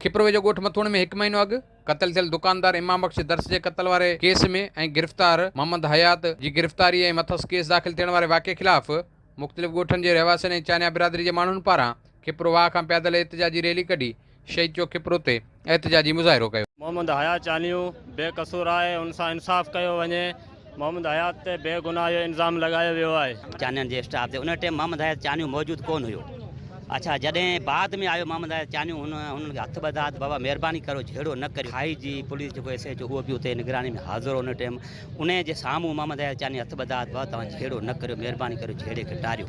کپروي جو ڳوٺ مٿوڻ ۾ هڪ مهينو اڳ قتل ٿيل دڪاندار امام بخش درس جي قتل واري ڪيس ۾ ۽ گرفتار محمد حيات جي گرفتاري ۽ مٿس ڪيس داخل ٿيڻ واري واقعي خلاف مختلف ڳوٺن جي رهواسين ۽ چانيا برادري جي ماڻهن پاران کپرو واهه کان پيادل احتجاجي ريلي ڪڍي شهيد چوڪ کپرو تي احتجاجي مظاهرو ڪيو. محمد حيات چانيو بي قصور آهي ان سان انصاف ڪيو وڃي محمد حيات تي بي گناهه جو الزام لڳايو ويو آهي. چانيان جي اسٽاف تي ان ٽيم محمد حيات چانيو موجود ڪونه هيو اڇا جڏهن بعد ۾ آيو محمد حيات چانيو هن انهن کي هٿ ٻڌا ته بابا مهرباني ڪريو جهيڙو نه ڪريو آئي جي پوليس جيڪو ايس ايچ او اهو به اتي نگراني ۾ حاضر هو ان ٽيم انهي جي سامهون محمد حيات چانيو هٿ ٻڌا ته بابا توهان جهيڙو نه ڪريو مهرباني ڪريو جهيڙي کي ٽاريو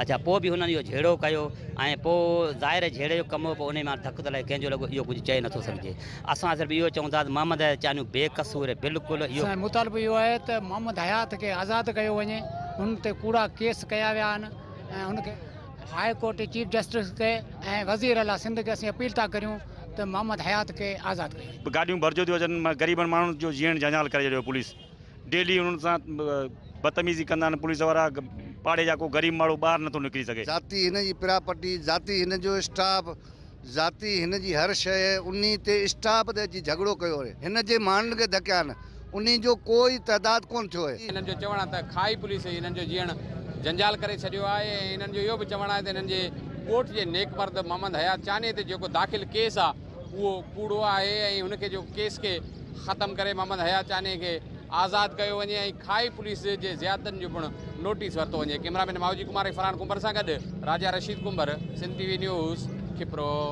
اڇا پوء به هنن اهو جهيڙو ڪيو ۽ پوء ظاهر جهيڙي جو ڪم هو پوء انهي مان ڌڪ ته لڳي ڪنهن جو لڳو اهو ڪجهه چئي نٿو سگهجي. اسان صرف اهو چئون ٿا ته محمد حيات چانيو بي قصور اهي بلڪل اهو. اسان جو مطالبو اهو آهي ته محمد حيات کي آزاد ڪيو وڃي هن تي ڪوڙا ڪيس ڪيا ويا آهن ۽ هن کي. هاء ڪورٽ جي چيف جسٽس کي ۽ وزير اعليٰ سنڌ کي اسين اپيل ٿا ڪريون ته محمد حيات کي آزاد ڪيو وڃي. گاڏيون ڀرجيون ٿيون اچن غريبن ماڻهن جو جيئڻ جنجال ڪري ڇڏيو پوليس ڊيلي انهن سان بدتميزي ڪندا آهن پوليس وارا پاڙي جا ڪو غريب ماڻهو ٻاهر نٿو نڪري سگهي. ذاتي هن جي پراپرٽي ذاتي هن جو اسٽاف. ذاتي هن جي هر شيء انهي تي اسٽاپ تي اچي جهڳڙو ڪيو آهي. هن جي ماڻهن کي ڌڪيا آهن. انهي جو ڪو ئي تعداد ڪونه ٿيو آهي. هنن جو چوڻ آهي ته کاهي پوليس ئي هنن جو جيئڻ جنجال ڪري ڇڏيو آهي ۽ هنن جو اهو به چوڻ آهي ته هنن جي ڳوٺ جي نيڪ مرد محمد حيات چانيهي تي جيڪو داخل ڪيس آهي اهو ڪوڙو آهي ۽ هن کي جيڪو ڪيس کي ختم ڪري محمد حيات چانيهي کي آزاد ڪيو وڃي ۽ کائي پوليس جي زيادتين جو پڻ نوٽيس ورتو وڃي ڪئميرا مين مائوجي ڪمار ۽ فرحان ڪنڀر سان گڏ Raja Rashid Kumbhar Sindh T V news Khipro.